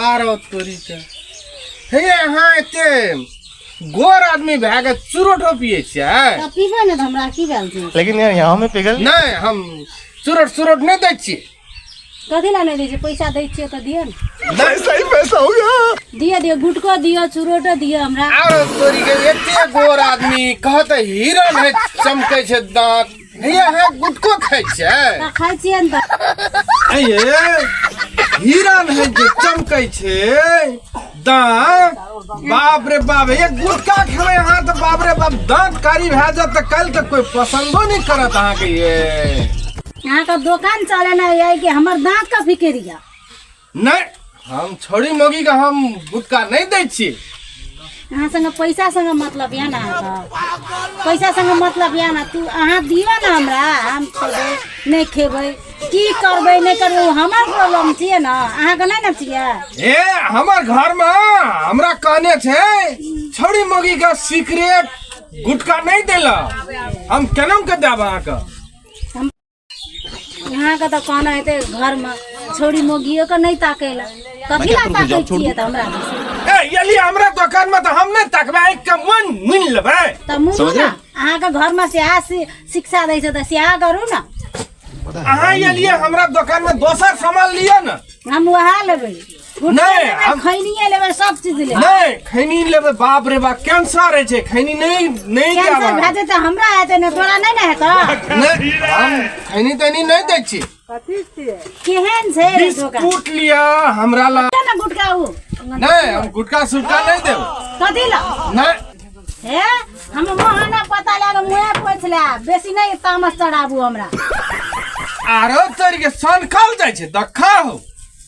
आर तोरी के हे अहाँ एते गोर आदमी भए के चुरोटो पिए छियै पीबे ने हमरा की भेल छै लेकिन यार यहाँ में पिघल नहीं हम चुरोट चुरोट नहीं दै छियै कथी ला नहीं दै छियै पैसा दै छियै तऽ दिअ ने नहीं सही पैसा हो गया दिअ दिअ गुटको दिअ चुरोटो दिअ हमरा आरो तोरी के एते गोर आदमी कहते हिरण है चमकै छै दांत ये अहाँ गुटको खाइ छियै तऽ खाइ छियै ने तऽ ऐ ये हिरन है जे चमकै छै दाँत बाप रे बाप ये गुटका खेबै अहाँ तऽ बाप रे बाप दाँत कारी भए जायत तऽ काल्हि तऽ कोइ पसन्दो नहि करत अहाँके ये अहाँके दोकान चलेनाइ यऽ कि हमर दाँतके फिकिर यऽ नहि हम छोड़ी मोगी के हम गुटका नहीं दै छी अहाँ संगे पैसा संगे मतलब यऽ ने अहाँके पैसा संगे मतलब यऽ ने तू अहाँ दियौ ने हमरा हम खेबै नहि खेबै की करबै नहि करबै ओ हमर प्रॉब्लम छियै ने अहाँके नहि ने छियै ए हमर घर में हमरा कहने छे छोड़ी मोगी के सीक्रेट गुटका नहीं देला हम केना के देब अहाँके अहाँके तऽ कहना हेतै घरमे छौड़ी मोगियो के नहि ताकै लए कथी लए ताकै छियै तऽ हमरा ए यदि हमरा दोकान में तो हम नहीं तकबे एक के मन मिल लेबे तऽ मुनू समझ ने रहे? अहाँके घरमे सएह शि- शिक्षा दै छै तऽ सएह करू ने अहाँ ये लिए हमरा दोकान में दोसर सामान लियो ना हम वएह लेबै नहि हम खैनिए लेबै सब चीज लेबै नहि खैनी लेबै बाप रे बाप कैंसर होइ छै खैनी नहि नहि कैंसर जाबा भए जेतै हमरा हेतै ने तोरा नहि ने हेतौ नहि हम खैनी तैनी नहि दै छी केहन छै रे दोकान बिस्कुट लिया हमरा ला केना गुटका उ नहि हम गुटका सुटका नहि देब कथी ल नहि हे हम मोहना पता लए कऽ मुँहे पोछ ले बेसी नहि तामस चढ़ाबू हमरा आरो तोरी के सनखल जाइ छै दखा हो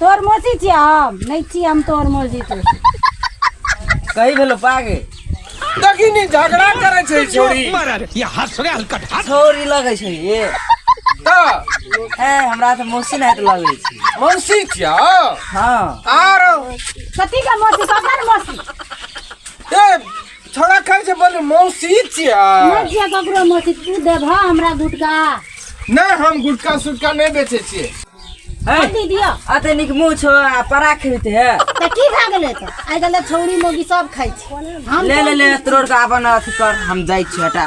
तोर मौसी छियै हम नहि छी हम तोर मौसी तो कही भेलो पागे देखिनी झगड़ा करे छै छोरी ये हंस रे हलकट हंस छोरी लगे छै ये त ए हमरा त मौसी नै त लगे छै मौसी छियै हां आर कथी का मौसी ककर मौसी ए छोरा कहै छै बोले मौसी छियै नै छियै ककरो मौसी तू देबह हमरा गुटका नै हम गुटका सुटका नै बेचे छियै हैं? दी दियो अते निक मुंह छो आ परा खेते है त की भए गेलै त आइ गेलै छौरी मोगी सब खाइ छै हम ले ले ले तोड़ के अपन अथी कर हम जाई छी हटा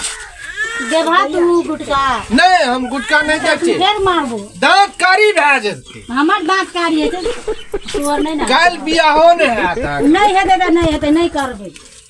देबा तू गुटका नहीं हम गुटका नहीं तू देखते फेर मारबो दांत कारी भए जेतै हमर दाँत कारी हेतै तोहर नहि ने काल्हि बियाहो नहि हैत अहाँके। नहि हेतै तऽ नहि हेतै नहि करबै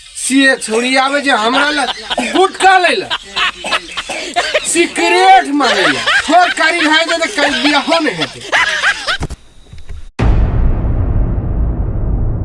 से छोड़ी आवे जे हमरा ल गुटका ले ल सिगरेट मारे ल छोड़ करी है जे त कल बियाहो नहीं हेते